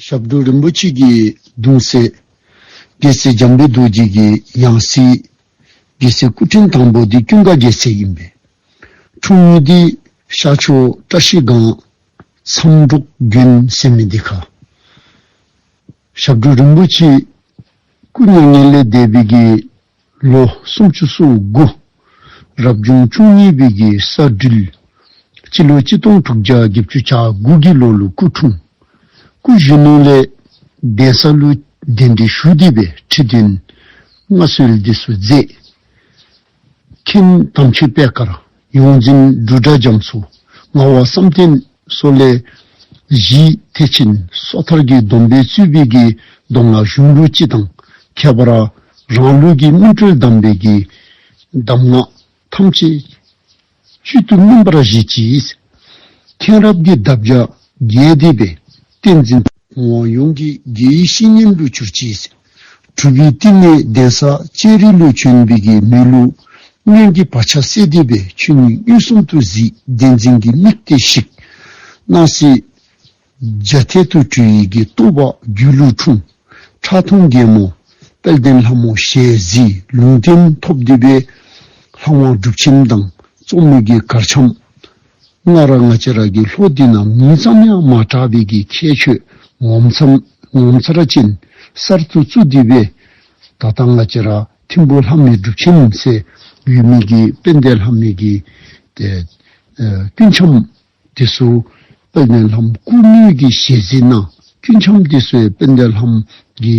ཞབས་དྲུང་རིན་པོ་ཆེ་གྱི་གདུང་སྲས། རྒྱལ་སྲས་འཇམ་དཔལ་རྡོ་རྗེ་གི་ཡང་སྲིད། རྒྱལ་སྲས་སྐུ་ཕྲེང་དང་པོ་འདི་ཀུན་དགའ་རྒྱལ་སྲས་ཡིན་པས། འཁྲུངས་ཉིན་འདི་ཤར་ཕྱོགས་བཀྲ་ཤིས་སྒང། མཚམས་འབྲོག་རྒྱུན་སེ་མི་སྡེ་ཁག། ཞབས་དྲུང་རིན་པོ་ཆེ། སྐུ་མྱ་ངན་ལས་འདས་པའི་དགེས། ལོ་སུམ་ཅུ་སོ་དགུ། རབ་བྱུང་བཅུ་གཉིས་པའི་རྒྱལ་ས་སྦྲུལ། སྤྱི་ལོ་གཅིག་སྟོང་དྲུག་བརྒྱ་བརྒྱད་ཅུ་གྱ་དགུ་གི་ལོ་ལུགས་སྐུ་འཁྲུངས། སྐུ་གཞོན་ནུ་ལས་གདན་ས་ཀླུ་གདན་འདི་བཞུགས་བསྡུས་པའི་ཁྲི་སྟོན་མངའ་གསོལ་འདི་སུ་མཛད། མཁན་དམ་ཆོས་དཔལ་ཀརྨ། ཡོངས་འཛིན་སྦྲུལ་སྒྲ་འབྱམས་སུ་མངའ་བ་བསམ་གཏན་སོགས་ལས། བཞི། ཐེག་ཆེན་སོ་ཐར་གྱི་སྡོམ་པའི་ཚུལ་དཔེ་དགེའི་སྡོམ་ལ་གཞུང་ལུགས་སྤྱི་དང་ཁྱད་པར་རང་ལུགས་ཀྱི་སྨིན་གྲོལ་གདམས་པའི་དགེའི་གདམས་ངག་ཐམས་ཅད་བཅུད་དུ་སྨིན་པར་བཞེད་ཀྱིས། མཁྱེན་རབ་ཀྱི་འདབ་བརྒྱ་རྒྱས་འདེབས་པའི་བསྟན་འཛིན། དབང་ཡོངས་ཀྱི་དགེ་བཤེས་སྙན་དུ་གྱུར་ཅིས། གྲུབ་པའི་བསྟི་གནས་གདན་ས་སྤྱན་རས་ཀླུ་བྱོན་འབིགས་ཀྱི་མོས་གླུ། སྔོན་གྱི་བག་ཆགས་གསལ་བདེ་བའི་ཆོས་ཉིད་གཡོ་གསུམ་དུ་གཟིགས་བདེ་འཛིན་གྱི་དམིགས་གཏད་བཤིག། སྣང་སྲིད་རྒྱ་མཐའི་དུར་ཁྲོད་ཡི་གེ་རྟོགས་པ་སྒྱུ་ལུས་འཁྲུངས། ཁྲག་འཐུང་རྒྱལ་མོ་དཔལ་ལྡན་ལྷ་མོ་ཞལ་གཟིགས་ལུང་བསྟན་ཐོབ་བདེ་བའི་ལྷ་དབང་སྒྲུབ་ཆེན་དང་རྩོམ་མེད་ཀྱི་གར་འཆམ། སྔ་ར་སྔ་ཕྱི་ར་གི་ལྷོ་དུས་ནང་མི་ཙམ་ཡང་མ་གྲགས་པའི་གི་ཁྱད་ཆོས་ངོ་མཚར་ར་ཅན་གསར་དུ་བཙུགས་དུས་པས། ད་ལྟ་སྔ་ཕྱི་ར་ཐིམ་པོ་ལྷམ་མེད་སྒྲུབ་ཆེན་ཚེ་ཡུལ་མིག་གི་དཔལ་ལྡན་ལྷམ་མེད་ཀྱི། དཀྱུས་འཆམ་ཏི་སུ་དཔལ་ལྡན་ལྷམ་བསྐུར་ནུས་ཀྱི་ཞལ་གཟིགས་ན་དཀྱུས་འཆམ་ཏི་སུའི་དཔལ་ལྡན་ལྷམ་གྱི།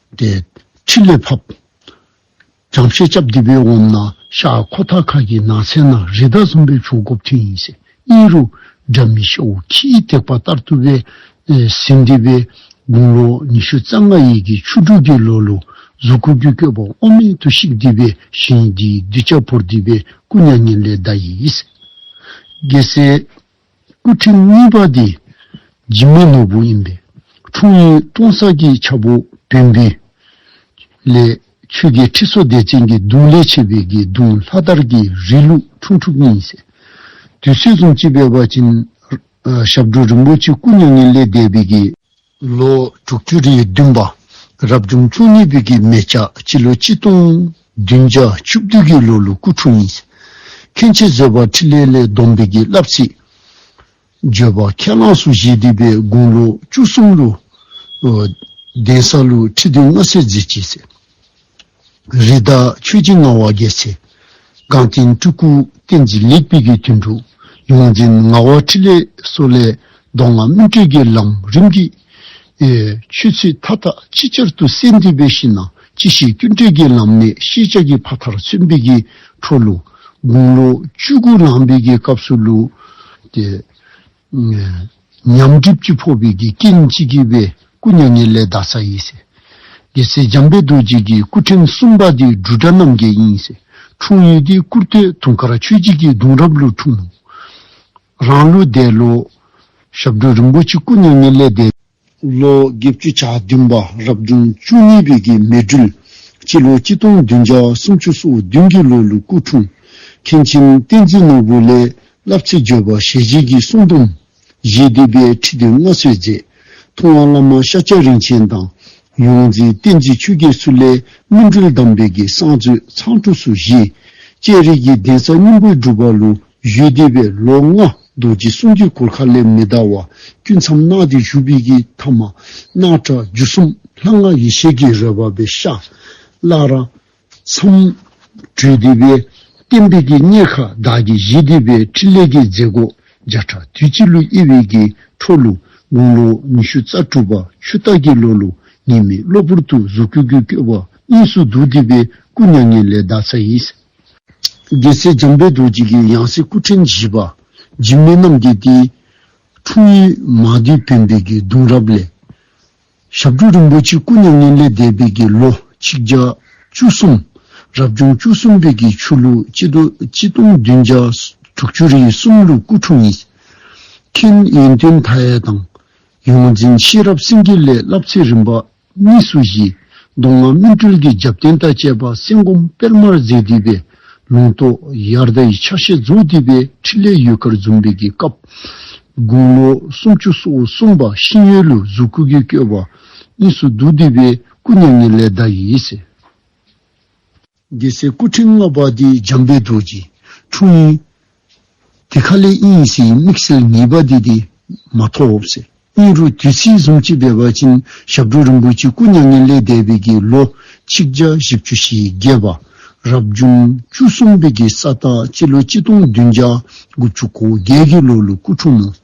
ཏེ། ཕྲིན་ལས་ཕབ། བྱང་བཤད་སྐྱབས་བདེ་བའི་འོམ་ན་ཤ་ཁོ་ཐག་ཁ་གི་ནགས་ཚལ་ན་རི་དྭགས་གསུམ་པའི་ཕྱོགས་སྒོ་ཕྲེང་ཡིན་ཟེར་གཉིས་རུ་སྒྲ་མི་ཤོ་བོ་ཁྱི་ཡིས་བཏེགས་པ་ལྟར་བཏུ་བའི་ཟིན་བདེ་བའི་དགུང་ལོ་ཉི་ཤུ་རྩ་ལྔ་ཡས་ཀྱི་ཆུ་དྲུག་གི་ལོ་ལུག་གཟུགས་ཁུ་རྒྱུད་བསྐྱོད་པ་དབུ་མའི་དུ་ཤིག་བདེ་བའི་ཞིང་འདིའི་གདུལ་བྱ་བོར་བདེ་བའི་སྐུ་མྱ་ངན་ལས་བདའ་ཡིས། རྒྱལ་སྲས། སྐུ་ཕྲེང་གཉིས་པ་དེ་འཇིགས་མེད་ནོར་བུ་ཡིན་པས་འཁྲུངས་ཡུལ་སྟོང་གསར་གྱི་ཆག་སྒོ་དོན་བདུན། ལས་ཆོས་རྒྱལ་ཁྲི་སྲོང་ལྡེ་བཙན་གྱི་གདུང་ལས་མཆེད་པའི་དགེ་གདུང་ལྷ་དར་གྱི་རིགས་ལུགས་འཁྲུངས་ཐུབ་གཉིས་ཡིན། དུས་ཚོད་ཙམ་གཅིག་པའི་བར་གྱི་ཞབས་བྲོ་རིན་པོ་ཆེ་སྐུ་མྱ་ངན་ལས་འདས་པའི་དགེ། ལོ་དྲུག་ཅུ་རེའི་བདུན་པ་རབ་བྱུང་བཅུ་གཉིས་པའི་གི་མེ་ལྕགས་སྤྱི་ལོ་གཅིག་སྟོང་བདུན་བརྒྱ་བཅུ་བདུན་གི་ལོ་ལོ་སྐུ་འཁྲུངས་ཡིན། མཁན་ཆེན་བཟོད་པ་ཁྲི་ལས་ལས་བསྡོམས་པའི་གི་བསླབ་ཚིག། བརྗོད་པ་ཁས་བླངས་སུ་བཞེས་བསྡུས་པའི་དགུང་ལོ་བཅུ་གསུམ་ལོ། གདན་ས་ལོ་ཁྲི་བདུན་ལྔ་སེར་མཛད་ཅེས་གསལ། རི་དྭགས་ཆོས་རྗེ་ངག་དབང་རྒྱལ་ཚེ། གངས་ཅན་སྤྲུལ་སྐུ་བསྟན་འཛིན་ལེགས་སྤེལ་གྱི་དོན་དྲུག་ཡོངས་འཛིན་ངག་དབང་ཕྲིན་ལས་སོགས་ལས་གདོང་ལྔ་སྨིན་གྲོལ་གྱི་ལམ་རིམ་གྱི་ཆོས་ཚུལ་མཐའ་དག་ཅིག་ཅར་དུ་གསལ་འདེབས་པའི་གཞི་ནང་ཅི་བྱས་སྐྱོན་བྲལ་གྱི་ལམ་གནད་ཤེས་བྱ་གྱི་ཕ་མཐར་མཚོན་འབིགས་ཀྱི་འཕྲོ་ལུགས་དགུང་ལོ་བཅུ་དགུ་ལངས་འབིགས་ཀྱི་སྐབས་སུ་ལུས་ཏེ། ཉམས་གྲིབ་སྤྱི་ཕོ་བའི་གིས་སྐྱེ་གཉིས་ཕྱི་དགེ་བའི་སྐུ་མྱ་ངན་ལས་བདག་ས་ཡིན། དགེ་ཚེ་འཇམ་དཔལ་རྡོ་རྗེ་གིས་སྐུ་ཕྲེང་གསུམ་པ་དེ་སྦྲུལ་དགྲ་རྣམ་རྒྱལ་ཡིན། འཁྲུངས་ཡུལ་དེ་བཀུར་སྟོད་དུང་དཀར་ཆོས་རྗེ་སྐྱིད་གདུང་རབ་ལོར་འཁྲུངས། རང་ལོ་བརྒྱད་ལོ། ཞབས་དྲུང་རིན་པོ་ཆེ་སྐུ་མྱ་ངན་ལས་འདས། ལོ་བརྒྱད་བཅུ་ཆ་བདུན་པ་རབ་བྱུང་བཅུ་གཉིས་པའི་གྱི་མེ་སྦྲུལ་གྱི་ལོ་གཅིག་སྟོང་བདུན་བརྒྱ་སུམ་ཅུ་སོ་བདུན་གྱི་ལོ་ལུགས་སྐུ་འཁྲུངས། མཁན་ཆེན་བསྟན་འཛིན་ནོར་བུ་ལས་བསླབ་ཚིག་བརྗོད་པ་ཞལ་བཞེས་ཀྱི་གསུང་སྡོམ། རྗེ་འདི་པའི་ཁྲི་འདི་མངའ་གསོལ་མཛད། ཐུབ་དབང་བླ་མ་ཤཱཀྱ་རིན་ཆེན་དང། ཡོངས་འཛིན་བསྟན་འཛིན་ཆོས་རྒྱལ་སུ་ལས་སྨིན་གྲོལ་གདམས་པའི་གྱི་གསང་མཛོད་ཚང་ཕྲུགས་སུ་བཞེས། སྤྱན་རས་ཀྱི་གདན་ས་སྙིང་པོའི་སྒྲུབ་པ་ལུགས་བཞུགས་འདི་པའི་ལོ་ལྔ། རྡོ་རྗེ་གསུང་དཀྱིལ་འཁོར་མཁའ་ལས་མི་ལྡང་བ། དཀྱུས་མཚམས་སྣང་སྟེ་བཞུགས་པའི་ཀྱི་ཐ་མ། སྣང་གྲགས་རྒྱུ་གསུམ་ལྷ་སྔགས་ཡེ་ཤེས་ཀྱི་རོལ་པ་པའི་ཤ། བླ་ར། མཚམས། དྲོད་སྡེ་པའི། བརྟན་པའི་ཀྱི་གཉེར་ཁ་བདག་གི་གཞི་སྡེ་པའི་ཕྲིན་ལས་ཀྱི་མཛད་སྒོ་བརྒྱ་ཕྲག་དུས་གཅིག་ལུས་དབྱེ་བའི་ཀྱི་འཕྲོ་ལུགས་དགུང་ལོ་ཉི་ཤུ་རྩ་དྲུག་པ་ཆུ་སྟག་གི་ལོ་ལུགས་ངེས་མེད་གློ་བུར་དུ་གཟུགས་སྐུ་གུ་བསྐྱོད་པ་གཉིས་སུ་འདུག་སྡེ་པའི་སྐུ་མྱ་ངན་ལས་བདག་ཚ་ཡིས། རྒྱལ་སྲས་འཇམ་དཔལ་རྡོ་རྗེ་ཀའི་ཡང་སྲིད་སྐུ་ཕྲེང་བཞི་པ་འཇིགས་མེད་རྣམ་རྒྱལ་ཏེ། འཁྲུངས་ཡུལ་མ་དུལ་བོན་པོད་ཀྱི་གདུང་རབས་ལས། ཞབས་དྲུང་རིན་པོ་ཆེ་སྐུ་མྱ་ངན་ལས་འདས་པའི་དགེ་ལོ་ཆིག་བརྒྱ་བཅུ་གསུམ། རབ་བྱུང་བཅུ་གསུམ་བོད་ཀྱི་ཆོས་ལུགས་སྤྱི་སྡོམ་བདུན་བརྒྱ་དྲུག་ཅུ་རེའི་གསུམ་ལུགས་སྐུ་འཁྲུངས་ཡིན། མཁན་ཡོན་ཏན་མཐའ་ཡས་དང། ཡོངས་འཛིན་ཤེས་རབ་སེང་གེ་ལས་བསླབ་ཚེ་རིམ་པ་གཉིས་སུ་བཞི། མདོ་སྔགས་སྨིན་གྲོལ་གྱི་རྒྱབ་རྟེན་དང་བཅས་པ་གསན་སྒོམ་དཔལ་དམར་རྫས་བསྡུས་པའི་ལུང་རྟོགས་དབྱར་ཟླ་ཡི་ཕྱག་བཞེས་རྫོགས་བསྡུས་པའི་ཕྲིན་ལས་ཡུལ་དཀར་འཛུམ་འབེབས་ཀྱི་སྐབས། དགུང་ལོ་སུམ་ཅུ་སོ་དགུ་སོན་པ་ཤིང་ཡོས་ལུས་གཟུགས་སྐུ་གུས་བསྐྱོད་པ། གཉིས་སུ་བསྡུ་བསྡུས་པའི་སྐུ་མྱ་ངན་ལས་བདག་ཡིད་བྱེད། རྒྱལ་སྲས་སྐུ་ཕྲེང་ལྔ་པ་དེ་འཇམ་དཔལ་རྡོ་རྗེ་འཁྲུངས་ཡིན། དེ་ཁ་ལས་དབྱིན་ཡིག་སིའི་དམིགས་བསལ་ངེས་པ་དེ་དེ་མ་ཐོབ། སྙིང་རུས་དུས་ཚིགས་གསུམ་གཅིག་པའི་བར་ཆེན་ཞབས་དྲུང་རིན་པོ་ཆེ་སྐུ་མྱ་ངན་ལས་འདས་པའི་དགེ་ལོ་ཆིག་བརྒྱ་བཞི་བཅུ་བཞི་བརྒྱད་པ། རབ་བྱུང་བཅུ་གསུམ་པའི་དགེ་བསགས་སྟག་སྤྱི་ལོ་གཅིག་སྟོང་བདུན་བརྒྱ་དགུ་བཅུ་གོ་བརྒྱད་ཀྱི་ལོ་ལོ་སྐུ་འཁྲུངས།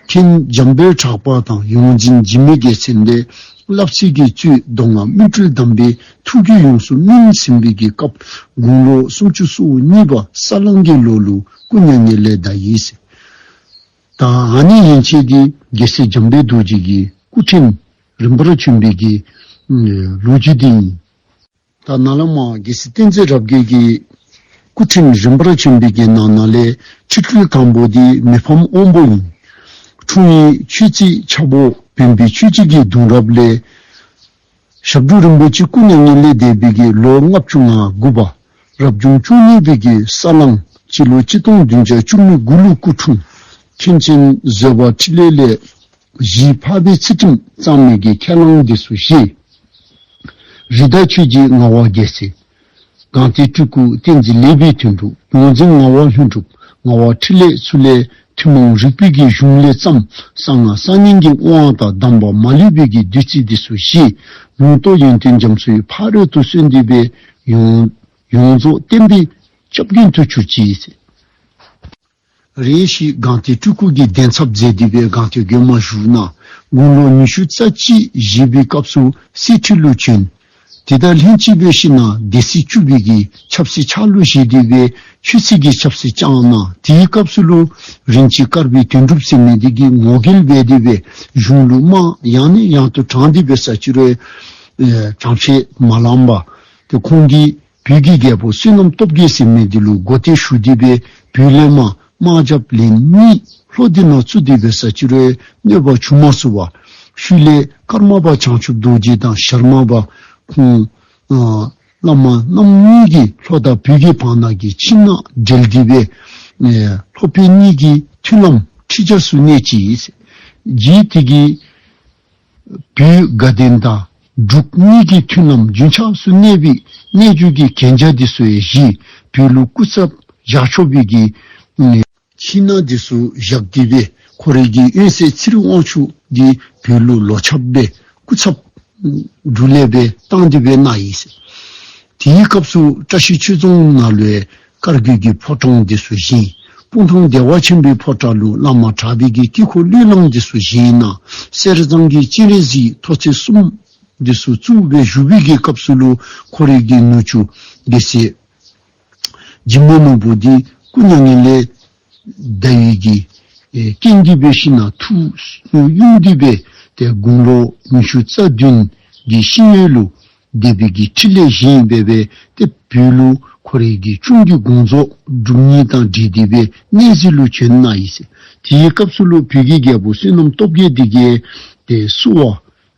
མཁན་འཇམ་པོའི་གྲགས་པ་དང་ཡོངས་འཛིན་འཇིགས་མེད་རྒྱལ་མཚན་ལས་བསླབ་ཚིག་གི་བཅུད་བརྡུང་ལ་སྨིན་གྲོལ་གདམས་པའི་ཐུགས་རྒྱུད་ཡོངས་སུ་སྨིན་ཟིན་པའི་གི་སྐབས་དགུང་ལོ་སུམ་ཅུ་སོ་གཉིས་པ་ས་གླང་གི་ལོ་ལུག་སྐུ་མྱ་ངན་ལས་འདའ་ཡིན་ཟེར། ད་ཨ་ནི་ཡན་ཆད་ཀྱི་རྒྱལ་སྲས་འཇམ་པའི་རྡོ་རྗེ་གི་སྐུ་ཕྲེང་རིམ་པར་བྱོན་པའི་གི་ལོ་རྒྱུས་དེ་ཡིན། ད་ནཱ་ལནྜ་རྒྱལ་སྲིད་བསྟན་འཛིན་རབ་རྒྱས་ཀྱི། སྐུ་ཕྲེང་རིམ་པར་བྱོན་པའི་རྒྱན་ནང་ན་ལས་ཆུ་སྤྲུལ་དང་པོ་དེ་མི་ཕམ་དབང་པོ་ཡིན། འཁྲུངས་ཡུལ་ཆོས་རྩིས་ཆག་པོ་བོན་པོའི་ཆོས་བྱེད་ཀྱི་གདུང་རབས་ལས། ཞབས་དྲུང་རིན་པོ་ཆེ་སྐུ་ན་ཉིན་ལས་འདས་པའི་གྱི་ལོ་ལྔ་བཅུ་ང་དགུ་པ། རབ་བྱུང་བཅུ་གཉིས་པའི་གྱི་ས་གླང་སྤྱི་ལོ་གཅིག་སྟོང་བདུན་བརྒྱ་བཅུ་གཉིས་དགུང་ལོ་སྐུ་འཁྲུངས། མཁན་ཆེན་བཟོད་པ་ཕྲིན་ལས་ལས། བཞིའི་འཕགས་པའི་ཚུལ་ཁྲིམས་གཙང་མའི་གེགས་ཁས་བླངས་འདི་སུ་ཤེས། རི་དྭགས་ཆོས་ཀྱི་ངག་དབང་རྒྱལ་སྲས། གང་དེའི་སྤྲུལ་སྐུ་བསྟན་འཛིན་ལེགས་པའི་དོན་གྲུབ། ཡོངས་འཛིན་ངག་དབང་ལྷུན་གྲུབ་ངག་དབང་ཕྲིན་ལས་ཚུལ་ལས་ཐུན་མོང་རིག་པའི་གེགས་གཞུང་ལས་བརྩམས། གསང་སྔགས་གསར་རྙིང་གི་དབང་དང་གདམས་པ་མ་ལུས་པའི་གེགས་བདུད་རྩི་འདི་སུ་ཤེས། ལུང་རྟོགས་ཡོན་ཏན་འཇམ་བསོའི་ཕ་རོལ་ཏུ་གསོལ་འདེབས་པའི་ཡོངས། ཡོངས་རྫོགས་བསྟན་པའི་ལྕགས་རྒྱུན་དུ་གྱུར་ཅིག། རེ་ཞིག་སྒང་ཏའི་སྤྲུལ་སྐུ་དགེ་ལྡན་ཚབ་མཛད་འདུས་པའི་སྒང་ཏའི་དགོན་མ་བཞུགས་ན་དགུང་ལོ་ཉི་ཤུ་རྩ་གཅིག་བཞེས་པའི་སྐབས་སུ་སྲིད་ཁྲི་བློས་བྱོན། དེ་དང་ལྷན་གཅིག་བོད་ཕྱི་ནང་སྡེ་སྲིད་བཅུ་བོད་ཀྱི་ཆབ་སྲིད་ཆགས་བློས་བཞེས་འདུས་པའི་ཆོས་སྲིད་ཀྱི་ཆབ་སྲིད་བསྐྱངས་གནང་དེའི་སྐབས་སུ་ལུང་རིན་གྱིས་བཀར་བའི་དོན་གྲུབ་སེམས་མའི་སྡེ་དགེའི་ངོ་སྐལ་བས་འདུས་པའི་གཞུང་ལུགས་མང་ཡང་ནས་ཡང་དུ་དྲངས་འདུས་པའི་ས་བཅུ་རེ་དྲངས་བྱས་མ་ལམ་པ། ཁོང་གིས་བོད་ཀྱི་རྒྱལ་པོ་བསོད་ནམས་སྟོབས་རྒྱལ་སྲིད་མེད་འདི་ལོའི་སྒོ་སྟེ་ཞུ་བདེ་བའི་བུའི་གླེང་མ་དམག་ཇབ་ལིན་གཉིས་ལྷོ་སྡེ་ནག་ཆུ་སྡེ་བའི་ས་བྱི་རོའི་གནོད་པ་ཆུང་མ་བསུ་བ། ཤུལ་ལས་ཀརྨ་པ་བྱང་ཆུབ་རྡོ་རྗེ་དང་ཞར་མ་པ་ཁོང། བླ་མ་རྣམ་གཉིས་ཀྱི་ལྷོ་ད་བོད་ཀྱི་བང་ནག་གི་ཕྱི་ནག་སྦྲེལ་འདི་བའི། ལྷོ་བོད་གཉིས་ཀྱི་མཐུན་ལམ་ཁྲི་བྱ་སུ་གནས་ཀྱིས། རྗེའི་ཐིག་གིས། བུའི་དགའ་ལྡན་དང་འབྲུག་གཉིས་ཀྱི་མཐུན་རྣམ་རྒྱུན་ཆགས་སུ་གནས་པའི་གནས་བཅུ་གྱི་གན་རྒྱ་དེ་སུ་ཡི་གཞིས་བུའི་ལུགས་སྐུ་ཚབ་བཞག་ཆོག་པའི་གིས། ཕྱི་ནང་དེ་སུ་བཞག་དགོས་པས་ཁོ་རེ་གིས་དབོན་སྲས་ཚེ་རིང་དབང་ཕྱུག་གིས་བོད་ལུགས་ལོ་ཆབ་པའི་སྐུ་ཚབ་འབྲུག་ལས་པའི་སྟངས་དེ་བས་གནང་ཡིན། དེའི་སྐབས་སུ་བཀྲ་ཤིས་ཆོས་རྫོང་ནང་ལོའི་དཀར་བརྒྱུད་ཀྱི་ཕོ་བྲང་འདི་སུ་བཞེངས། སྤུངས་ཐང་བདེ་བ་ཆེན་པོའི་ཕོ་བྲག་ལུས་བླ་མ་གྲགས་སྡེ་གྱི་དཀྱིལ་འཁོར་གླུད་བླངས་འདི་སུ་བཞེངས། ནང་གསེར་གཙང་གི་སྤྱན་རས་གཟིགས་མཐོ་ཚད་གསུམ། འདི་སུ་བཙུགས་པའི་བཞུགས་དཔེ་གྱི་སྐབས་སུ་ལུ་ཁོ་རིགས་ཀྱི་ནུ་ཆུ་དགེ་བཤེས། འཇིགས་མེད་ནོར་བུ་འདི་སྐུ་མྱ་ངན་ལས། བཟླས་ཡོད་ཀྱི། རྐྱེན་བསྡུས་པའི་ཤིང་ནག་ཐུགས་དབྱུང་བསྡུས་པའི་དེ་དགུང་ལོ་ཉི་ཤུ་རྩ་བདུན་གྱི་ཤིང་གཡོན་ལུགས་བཟླས་པའི་ཀྱི་ཁྲི་ལས་བཞེངས་ཡིན་པས་པའི་དེ་བོད་ལུགས་ཁོ་རེ་ཀྱི་ཆུང་བརྒྱུད་དགོངས་རྫོགས་སྒྲུབ་གཉིས་དང་འབྲེལ་བསྡུས་པའི་གནས་གཟིགས་ལུགས་བྱོན་གནང་ཡིན། དེའི་སྐབས་སུ་ལུགས་བོད་ཀྱི་རྒྱལ་པོ་བསོད་ནམས་སྟོབས་རྒྱལ་སྡེ་དགེ་དེ་བསུ་བ་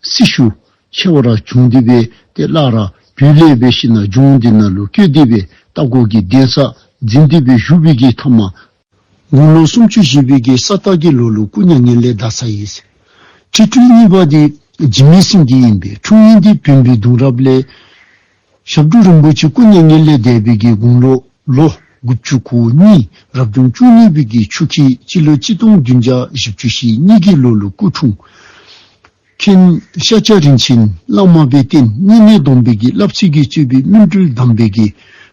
སྲི་ཞུ། ཆེ་བ་ར་བྱུང་འདི་བས་དེ་བརླག་ར་བུས་ལས་བས་ཤི་ན་འབྱུང་འདི་ན་ལུ་སྐྱོད་འདི་བས་ལྟ་སྐོར་གྱི་གདན་ས་འཛིན་འདི་བས་བཞུགས་བས་ཀྱི་ཐ་མ་དགུང་ལོ་སུམ་ཅུ་བཞེས་བས་ཀྱི་ས་བརྟག་གྱི་ལོ་ལུག་སྐུ་མྱ་ངན་ལས་འདའ་ས་ཡིན། ཁྲི་སྤྲུལ་གཉིས་པ་འདི་སྦྱིན་མའི་སྲིང་འདི་ཡིན་པས་འཁྲུངས་ཉིན་འདི་བོན་པོའི་གདུང་རབས་ལས། ཞབས་དྲུང་རིན་པོ་ཆེ་སྐུ་མཉེས་ངེས་ལེགས་དད་པའི་དགེ་དགུང་ལོ་ལོ་དགུ་བཅུ་གོ་གཉིས་རབ་བྱུང་བཅུ་གཉིས་པའི་དགེ་ཆུ་ཁྱི་སྤྱི་ལོ་གཅིག་སྟོང་བདུན་བརྒྱ་བཞི་བཅུ་ཞེ་གཉིས་དགེ་ལོ་ལོ་སྐུ་འཁྲུངས། མཁན་ཤཱཀྱ་རིན་ཆེན་བླ་མ་པའི་རྟེན་སྙིང་གནས་སྡོམ་པའི་དགེ་བསླབ་ཚིག་གི་སྤྱོད་པའི་སྨིན་གྲོལ་གདམས་པའི་དགེ།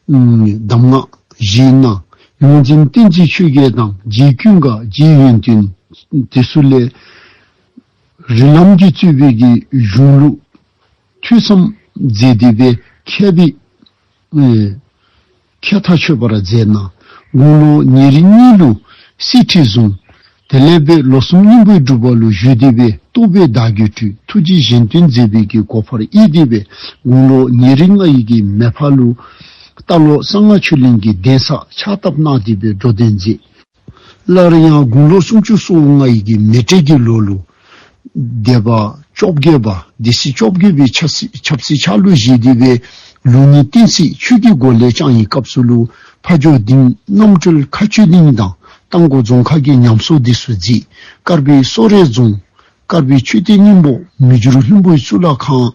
གདམས་ངག་བཞིའི་གནང། ཡོངས་འཛིན་བསྟན་བཅོས་ཆོས་རྒྱལ་དང་རྗེའི་གུས་འགའ་རྗེའི་ཡོན་ཏན་དེ་སུ་ལས། རིགས་ལམ་གྱི་རྩོད་པའི་དགེ་གཞུང་ལུགས། ཐོས་བསམ་མཛད་བདེ་བའི་ཁྱད་དེ། མཁས་མཐའ་ཆོད་པར་མཛད་ན་དགུང་ལོ་ཉེར་གཉིས་ལོའི་སྲིད་ཁྲི་བཟུང། དེ་ལས་པའི་ལོ་གསུམ་སྙིང་པོའི་སྒྲུབ་པ་ལོ་བཞི་བདེ་བའི་རྟོགས་པའི་བདག་རྒྱུད་སྤྲུལ་ཐུགས་རྗེ་གཞན་བསྟོད་མཛད་པའི་གི་གོ་འཕར་དབྱེ་བདེ་བའི་དགུང་ལོ་ཉེར་ལྔ་ཡི་གི་མེ་ཕ་ལུའི་རྟ་ལོ་གསང་སྔགས་ཆོས་གླིང་གི་གདན་ས་ཕྱག་བཏབ་གནག་བདེ་བའི་འགྲོ་དོན་མཛད། སླར་ཡང་དགུང་ལོ་སུམ་ཅུ་སོ་ལྔ་ཡི་གེ་མེ་སྤྲེལ་གྱི་ལོ་ལོ། སྡེ་པ་བཅོ་བརྒྱད་པ་སྡེ་སྲིད་བཅོ་བརྒྱད་པའི་ཆབ་སྲིད་ཆགས་ལུགས་བཞེས་བསྡུས་པའི་ལུགས་ནི་བསྟན་སྲིད་ཆོས་ཀྱི་སྒོ་ལས་ཅང་ཡིན་སྐབས་སུ་ལུགས་ཕ་མཆོད་རྟིང་རྣམ་གྲོལ་མཁའ་སྤྱོད་གླིང་དང་རྟ་མགོ་རྫོང་ཁག་གི་ཉམས་གསོ་སྡེ་སུ་རྫིས་དཀར་པའི་གསོ་རས་རྫོང་དཀར་པོའི་མཆོད་རྟེན་སྙིང་པོ་མི་འགྱུར་ལྷུན་པོའི་གཙུག་ལག་ཁང།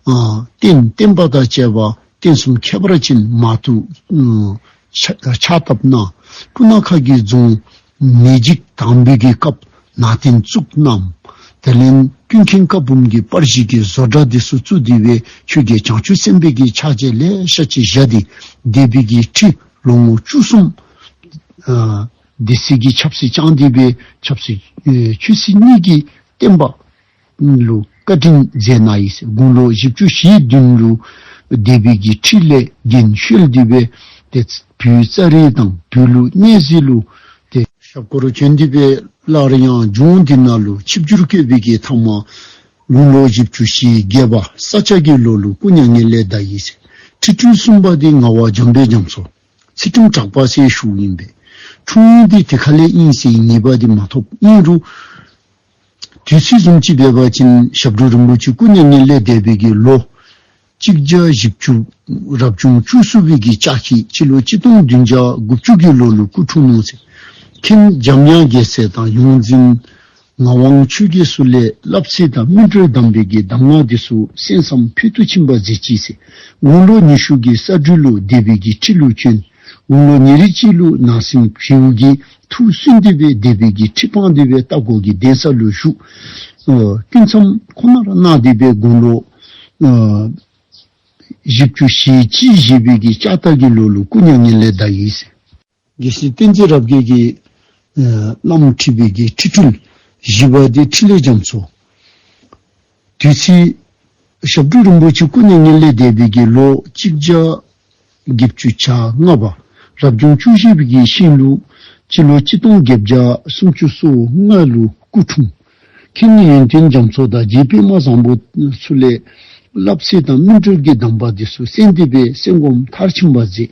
རྟེན་བརྟེན་པ་དང་བཅས་པ་རྟེན་གསུམ་ཁྱད་པར་ཅན་མ་ཐུགས། ཕྱག་བཏབ་ན་སྤུ་ནག་ཁ་གྱིས་བརྫོང། མེས་འཇིགས་དང་འབུད་ཀྱི་སྐབས་ན་རྟེན་གཙུག་བསྣམས། དེ་ལན་དཀྱུས་མཁན་བཀའ་འབུམ་གྱི་པར་གཞི་གི་བཟོ་འདྲ་དེ་སུ་གཙུག་བསྡུས་པའི་ཆོས་རྒྱལ་བྱང་ཆུབ་སེམས་དཔའི་གི་ཕྱག་བྱས་ལས་ཤ་ཆེ་བཞི་སྟེ་བཟླས་དཔེ་གྱི་ཁྲི་ལོ་ངོ་བཅུ་གསུམ། སྡེ་སྲིད་ཀྱིས་ཆབ་སྲིད་བཅངས་འདུས་པའི་ཆབ་སྲིད་ཆོས་སྲིད་གཉིས་ཀྱི་བསྟན་པ་ལ་བཀའ་དྲིན་མཛད་ན་ཡིས་དགུང་ལོ་བཞི་བཅུ་ཞེ་བདུན་ལོའི་སྡེ་དཔོན་གྱི་ཁྲི་ལས་རྒན་གཞོན་འདུས་པའི་སྟེ་བུའི་རྩ་རིས་དང་བུ་ལུ་གཉེན་གཟིགས་ལུ་སྟེ། ཞབས་དཀོར་རུ་ཆོས་འདུས་པའི་སླར་ཡང་ལྗོངས་འདི་ན་ལུ་ཆིབས་བསྒྱུར་བསྐོས་པའི་གེ་ཐང་མ་དགུང་ལོ་བཞི་བཅུ་ཞེ་བརྒྱད་པ་ས་སྐྱ་དགེ་ལོ་ལུ་སྐུ་མྱ་ངན་ལས་འདའ་ཡིས་ཁྲི་སྤྲུལ་གསུམ་པ་སྟེ་ང་བ་འཇམ་དཔལ་འཇམ་སོགས། ཚེ་ཁྲིམས་གྲགས་པ་སའི་གཞུང་ཡིན་པས། འཁྲུངས་ཡུལ་འདི་དེ་ག་ལས་དབྱིངས་སའི་ངེས་པ་དེ་མ་ཐོབ་དབྱིངས་རུ། དུས་ཚིགས་གསུམ་གཅིག་སྦས་པ་ཅན་ཞབས་དྲུང་རིན་པོ་ཆེ་སྐུ་མྱ་ངན་ལས་འདས་པའི་གྱི་ལོ། གཅིག་བརྒྱ་བཞི་བཅུ། རབ་བྱུང་བཅུ་གསུམ་བའི་གྱི་ལྕགས་ཁྱི་སྤྱི་ལོ་གཅིག་སྟོང་བདུན་བརྒྱ་དགུ་བཅུ་གྱི་ལོ་ནས་སྐུ་འཁྲུངས་གནང། ཚེ་ཁྲིམས་འཇམ་དབྱངས་རྒྱལ་སྲས་དང་ཡོངས་འཛིན། ངག་དབང་ཆོས་རྒྱལ་གསུར་བླའི་བསླབ་ཚིག་དང་སྨིན་གྲོལ་གདམས་པའི་དགེ་གདམས་ངག་གི་སུ་གསན་བསམ་ཕུལ་དུ་ཕྱིན་པ་གཟི་བརྗིད་ཚེ་དགུང་ལོ་ཉི་ཤུ་གྱི་ས་སྦྲུལ་ལོ་སྡེ་བི་གི་ཁྲི་ལུགས་གཅོན་དགུང་ལོ་ཉེ་རེ་གཅིག་ལུགས་ནང་སེམས་བེའུ་གི་ཐུགས་བསུན་འདུས་པའི་སྡེ་བི་གི་ཁྲི་འཕང་འདུས་པའི་རྟ་སྒོ་གི་གདན་ས་ལུགས་བཞུགས། དཀྱུས་མཚམས་ཁོ་ནར་སྣག་སྡེ་པའི་དགུང་ལོ་བཞི་བཅུ་བཞིའི་དཔྱིད་བཞི་བི་གི་ལྕགས་སྟག་གི་ལོ་ལུགས་སྐུ་མྱ་ངན་ལས་བདག་ཡིན། དགེ་བཤེས་བསྟན་འཛིན་རབ་རྒྱས་ཀྱིས། བླ་མ་ཁྲི་པའི་བགེགས་ཁྲི་འཁྲུལ། བཞི་པ་སྡེ་ཁྲི་ལས་བྱམས་སོ། དུས་ཚིགས། ཞབས་དྲུང་རིན་པོ་ཆེ་སྐུ་ནས་ཉིན་ལས་འདས་པའི་དགེ་ལོ་གཅིག་ལྕགས་དགེ་བཅུ་ཆ་ལྔ་པ། རབ་བྱུང་བཅུ་བཞི་པའི་དགེ་བཤེས་ལུགས། སྤྱི་ལོ་གཅིག་སྟོང་བརྒྱད་བརྒྱ་སུམ་བཅུ་སོ་ལྔ་ལོའི་སྐུ་འཁྲུངས། ཁྱེད་ནི་ཡོན་ཏན་རྒྱ་མཚོ་དང་རྗེ་པད་མ་བཟང་པོ་ཚུལ་ལས། བསླབ་ཚེ་དང་སྨིན་གྲོལ་གྱི་གདམས་པ་འདི་སོ་སེན་འདི་པའི་སེམས་སྒོམ་མཐར་ཕྱིན་པར་མཛད།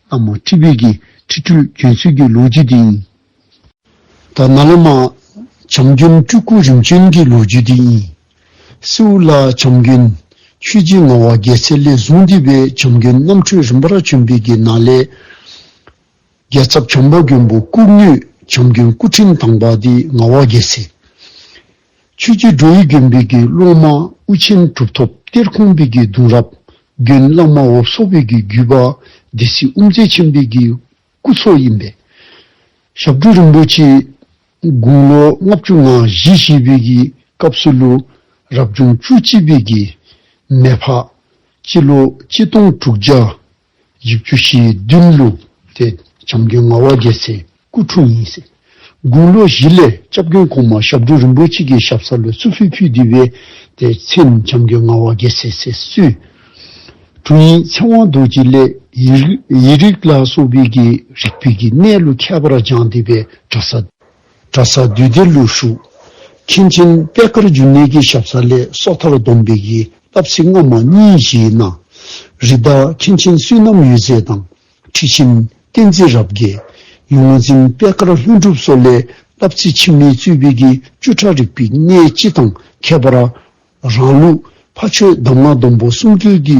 ཨ་མ་ཁྲི་བོད་ཀྱི་ཁྲི་ཁྲོད་གྱོན་ཚུལ་གྱི་ལོ་རྒྱུས་དེ་ཡིན། ད་ནཱ་ལེནྜ་བྱམས་སྐྱོན་སྤྲུལ་སྐུ་རིམ་བྱོན་གྱི་ལོ་རྒྱུས་དེ་ཡིན། སེའུ་ལ་བྱམས་སྐྱོན། ཆོས་རྗེ་ངག་དབང་རྒྱལ་མཚན་ལས་བཟུང་འདུས་པའི་བྱམས་སྐྱོན་རྣམ་འཕྲུལ་རིམ་པར་བྱོན་པའི་གྱི་ནཱ་ལེནྜ་རྒྱལ་ཚབ་བྱམས་པ་མགོན་པོ་སྐུ་ངོས་བྱམས་སྐྱོན་སྐུ་ཕྲེང་དང་པ་དེ་ངག་དབང་རྒྱལ་མཚན། ཆོས་རྒྱལ་སྒྲོལ་ཡུལ་དགོན་དཔོན་གྱི་སློང་མ་དབུ་ཆེན་གྲུབ་ཐོབ་གཏེར་ཁུང་དཔོན་གྱི་གདུང་རབས་དགོན་བླ་མ་འོབས་སོ་དཔོན་གྱི་བརྒྱུད་པ་སྡེ་སྲིད་དབུ་མཛད་ཆེན་དཔོན་གྱི་སྐུ་ཚོགས་ཡིན་པས། ཞབས་དྲུང་རིན་པོ་ཆེས་དགུང་ལོ་ལྔ་བཅུ་ང་བཞི་བཞེས་པའི་གི་སྐབས་སུ་ལོ་རབས་བྱུང་བཅུ་གཅིག་པའི་གི། མེ་ཕག། སྤྱི་ལོ་གཅིག་སྟོང་དྲུག་བརྒྱ་བཞི་བཅུ་ཞེ་བདུན་ལུགས་དེ་བྱམས་མགོན་ངག་དབང་རྒྱལ་མཚན་སྐུ་འཁྲུངས་ཉིན་སྲིད་དགུང་ལོ་བཞི་ལོའི་སྐྱབས་མགོན་གོང་མ་ཞབས་དྲུང་རིན་པོ་ཆེ་གི་ཞབས་ས་ལ་བསུ་ཕུལ་ཕུལ་བསྡུས་པའི་དེ་མཚན་བྱམས་མགོན་ངག་དབང་རྒྱལ་མཚན་སྲས་བསུའི་དྲུང་ཡིག་མཚན་དབང་རྡོ་རྗེ་ལས་ཡིག་རིགས་ལ་སོགས་པའི་གི་རིགས་ཕུད་ཀྱི་གནས་ལུགས་ཁྱད་པར་སྦྱངས་བསྡུས་པའི་གྲྭ་ས། གྲྭ་ས་འདུས་སྡེ་ཀླུ་ཧྲུག། མཁན་ཆེན་པད་དཀར་འབྱུང་གནས་ཀྱི་ཞབས་ས་ལས་སོགས་མཐར་བསྡོམས་འབིགས་ཀྱི་བསྟབ་ཚིག་སྔ་མ་གཉིས་བཞིའི་ནང། རི་བདག་མཁན་ཆེན་བསོད་ནམས་ཡུལ་མཛེས་དང། ཁྲི་ཆེན་བསྟན་འཛིན་རབ་རྒྱས། ཡུལ་ངོ་འཛིན་པད་དཀར་ལྷུན་གྲུབ་སོགས་ལས་བསྟབ་ཚིག་ཕྱི་མའི་གཙོས་འབིགས་ཀྱི་བཅུ་ཕྲག་རིག་པའི་གནས་སྤྱི་དང་ཁྱད་པར་རང་ལུགས་ཕ་ཆོས་གདམས་ངག་སྡོམ་པོ་གསུམ་སྤྲུལ་གྱི་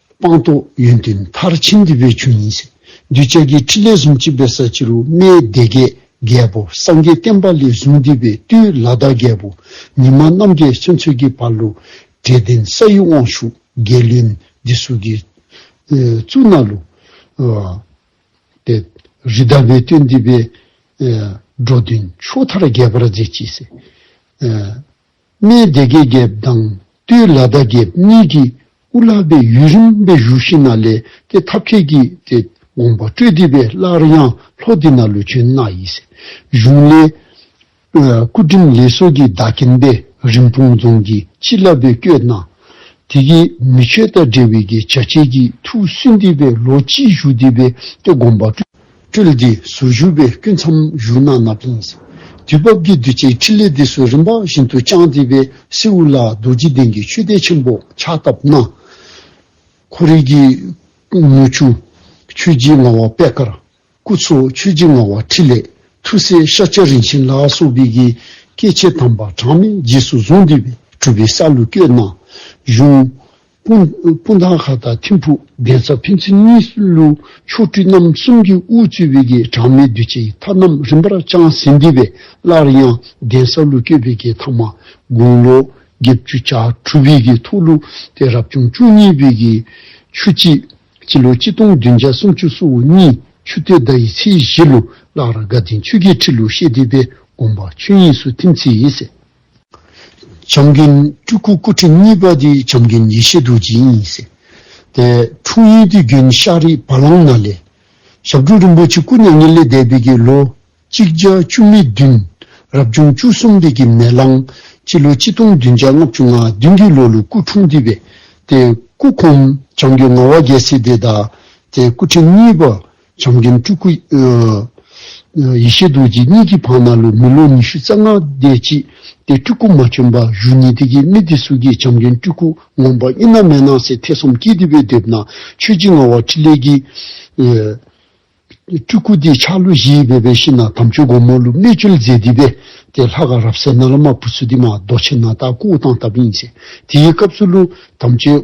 སྤངས་རྟོགས་ཡོན་ཏན་མཐར་ཕྱིན་འདུས་པའི་ཆོས་ཉིད་ཟིན། གདུལ་བྱ་དགེའི་ཁྲིད་ལས་བཟུང་བཅིངས་པའི་ས་བཅུ་རུ་སྨྲའི་སྡེ་བརྒྱད་རྒྱལ་པོ་སངས་རྒྱས་བསྟན་པ་ལས་བཟུང་འདུས་པའི་བཏུས་ལ་བདག་རྒྱལ་པོ་ཉི་མ་རྣམ་རྒྱལ་ཚུན་ཚོད་ཀྱི་བར་ལུ་དྲེད་ལྡན་ས་ཡི་དབང་ཕྱུག་རྒྱལ་བློན་འདི་གཟུགས་ཀྱི་གཙུག་ན་ལུ། རི་དྭགས་པའི་བཏུས་འདུས་པའི་འགྲོ་དོན་ཕྱོགས་མཐར་རྒྱས་པར་མཛད་ཅེས་ཟེར། སྨད་སྡེ་དགེ་རྒྱལ་དང་སྟོད་ལ་ཟླ་རྒྱལ་གཉིས་ཀྱིས་སྐུ་བླ་པའི་ཡུལ་རིམ་པས་བཞུགས་ཤིང་ན་ལས་དེ་ཐབས་མཁས་ཀྱིས་དེ་དགོངས་པ་སྤྲོས་བསྡུས་པའི་སླར་ཡང་ལྷོ་སྡེ་ན་ལུས་ཆེན་སྣ་ཡི་སྲས་གཞུང་ལས། སྐུ་ཁྲིམས་ལེགས་སོ་ཀྱི་བདག་མཁྱེན་པས་རིན་སྤུངས་རྫོང་གི་ཕྱི་བླ་བོའི་སྐྱོད་གནང། དེ་གའི་མི་ཆོས་དང་འབྲེལ་བའི་གྱི་བྱ་བྱེད་ཀྱི་ཐུགས་བསུན་བསྡུས་པའི་ལོ་གཅིག་བཞུགས་བསྡུས་པའི་དེ་དགོངས་པ་སྤྲོས། སྤྲུལ་སྡེ་སུ་བཞུགས་པའི་སྐུ་མཚམས་བཞུགས་ན་ན་བུན། དུས་བབ་ཀྱི་གདུལ་བྱའི་ཕྲིན་ལས་སྡེ་སུ་རིམ་པ་བཞིན་དུ་བསྐྱངས་ཏེ་པའི་སེའུ་ལ་རྡོ་རྗེ་གདན་གྱི་ཆོས་སྡེ་ཆེན་པོ་ཕྱག་བཏབ་ན། འཁོར་རིགས་ཀྱི་དངུལ་ཆུ། ཆོས་རྗེ་ངག་དབང་པད་དཀར་སྐུ། ཚོགས་མཆོད་རྗེ་ངག་དབང་ཕྲིན་ལས་ཐུགས་སྲས་ཤཱཀྱ་རིན་ཆེན་ལ་སོགས་པའི་གིས་སྐྱེ་མཆེད་དམ་པ་གྲངས་མེད་རྗེས་སུ་བཟུང་དུས་པའི་གྲུབ་པའི་ས་ལུ་བསྐྱོད་ན། གཞུང། སྤུན་ཟླ་ཁག་དང་ཐིམ་ཕུག་གདན་ས་ཕན་ཚུན་གཉིས་སུ་ཆོ་འཕྲུལ་རྣམ་གསུམ་གྱི་དབུ་བཙུད་བེ་དགེ་གྲངས་མེད་གདུལ་བྱའི་མཐའ་རྣམས་རིམ་པར་བསྐྱངས་ཟིན་འདི་བས་སླར་ཡང་གདན་ས་ཀླུ་སྐྱེས་བེ་དགེ་མཐའ་མ་དགུང་ལོ་བརྒྱད་བཅུ་ཆ་འཕྲུལ་བེ་དགེ་ཐོག་ཀླུ་སྟེ་རབ་བྱུང་བཅུ་གཉིས་བེ་དགེ་ཆུ་གཅིག་སྤྱི་ལོ་གཅིག་སྟོང་བདུན་བརྒྱ་སུམ་ཅུ་སོ་གཉིས་ཆུ་སྟོད་ཟླ་ཡི་ཚེས་བཞི་ལོ་སླར་དགའ་ལྡན་ཆོས་རྒྱལ་ཁྲི་ལོ་ཤེས་ལྡན་པའི་དགོངས་པ་ཆོས་དབྱིངས་སུ་ཐིམ་ཚེ་ཡིན། བྱམས་རྒན་སྤྲུལ་སྐུ་སྐུ་ཕྲེང་གཉིས་པ་དེ་བྱམས་རྒན་ཡེ་ཤེས་རྡོ་རྗེ་ཡིན་ཟེར། དེ་འཁྲུངས་ཡུལ་དུས་རྒྱུན་ཤག་རིག་བ་ལང་ན་ལས། ཞབས་དྲུང་རིན་པོ་ཆེ་སྐུ་མྱ་ངན་ལས་འདས་པའི་དགེ་ལོ་གཅིག་བརྒྱ་བཅུ་ནི་བདུན། རབ་བྱུང་བཅུ་གསུམ་དེ་གི་མེ་གླང་སྤྱི་ལོ་གཅིག་སྟོང་བདུན་བརྒྱ་ལྔ་བཅུ་ང་བདུན་གི་ལོ་ལོ་སྐུ་འཁྲུངས་དུས་པས་དེ་སྐུ་ཁོང་བྱང་རྒྱུ་ང་བ་རྒྱལ་སྲས་དེ་དང་དེ་སྐུ་ཕྲེང་གཉིས་པ་བྱམས་རྒན་སྤྲུལ་སྐུ། ཡེ་ཤེས་རྡོ་རྗེ་གཉིས་ཀྱི་བང་ན་ལོ་མི་ལོ་ཉི་ཤུ་རྩ་ལྔ་བསྡད་ཅི་སྟེ་སྤྲུལ་སྐུ་མ་བྱོན་པ་བཞུགས་ཉིན་དེ་གའི་མི་སྡེ་སུ་གིས་བྱམས་རྒན་སྤྲུལ་སྐུ་ངོམ་པ་རྙེད་ན་མེད་ན་སའི་ཐེ་ཚོམ་སྐྱེས་ཏེ་བོད་དེབ་ན་ཆོས་རྗེ་ངག་དབང་ཕྲིན་ལས་ཀྱིས། སྤྲུལ་སྐུ་དེའི་ཕྱག་ལོ་བཞིའི་སྦས་པའི་ཤིང་ནག་དམ་ཆོས་སྒོ་མོ་ལུགས་གནས་ཆོས་མཛད་འདི་སྦས་ཏེ་ལྷ་དགའ་རབ་གསལ་ནཱ་ལ་མ་བུ་ཚུལ་ལྡན་མ་རྡོ་རྗེ་ནཱ་ད་སྐུ་དབུ་ཐང་བཏབ་ཡིན། དེའི་སྐབས་སུ་ལུགས་དམ་ཆོས།